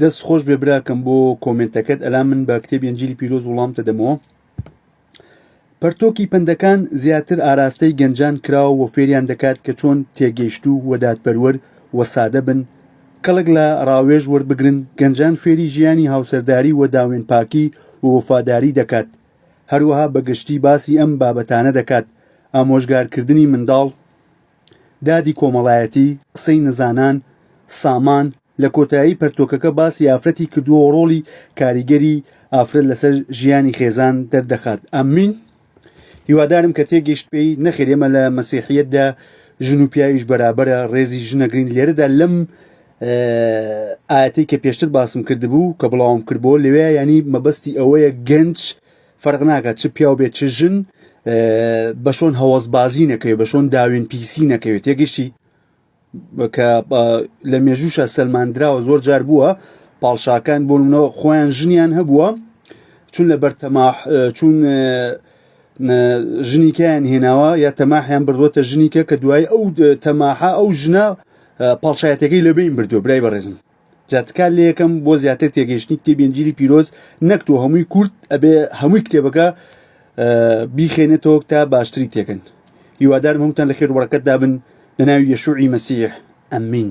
دەست خۆش بێ براکەم بۆ کۆمنتەکەت ئەلا من بە کتێبی ئەنجلی پیرۆز وڵامتە دەمەوە پەرتۆکی پندەکان زیاتر ئاراستەی گەنجان کراوە و فێریان دەکات کە چۆن تێگەیشت و وەدادپەروەر و سادە بن کەڵک لە ڕاوێژ وەربگرن گەنجان فێری ژیانی هاوسەرداری و داوێن پاکی و وەفاداری دەکات هەروەها بەگشتی باسی ئەم بابەتانە دەکات ئامۆژگارکردنی منداڵ دادی کۆمەڵایەتی، قسەی نەزانان، سامان، لە کۆتایی پەرتۆکەکە باسی ئافرەتی کردووە و ڕۆڵی کاریگەری ئافرەت لەسەر ژیانی خێزان دەردەخات. امین. هیوادارم کە تێگەیشت پێی. نەخێر ئێمە لە مەسیحیەتدا ژن و پیاویش بەرابەرە ڕێزی ژن ئەگرین لێرەدا لەم ئاەتی کە پێشتر باسم کردبوو کە بڵاوم کردبوو لەوێ ینی مەبەستی ئەوەیە گەنج فەرق ناکات چ پیاو بێت چ ژن بە شۆن هەوەزبازی نەکەوێت بە شۆن داوێن پیسی نەکەوێت یەگەشتی کە لە مێژووشە سەلماندراوە زۆر جار بووە پاڵشاکان بۆنەوە خۆیان ژنیان هەبووە چون لە بەرتەما چون ژنیکەیان هێناوە یا تەماحیان بردووەتە ژنیکە کە دوای ئەو تەماحا ئەو ژنە پاڵشایەتەکەی لەبین بردو برای بەڕێزم جا تکال لە یەکەم بۆ زیاتر تێگەیشتنی کتێبی ئنجیلی پیرۆز نەک تۆ هەمووی کورت ئەبێ هەمووی کتێبەکە بیخێنێتەوە تا باشتری تێکن هیوادارم هەمووتان لە خێر وەڕەکەت دابن لە ناوی یەشوعی مەسیح ئەمین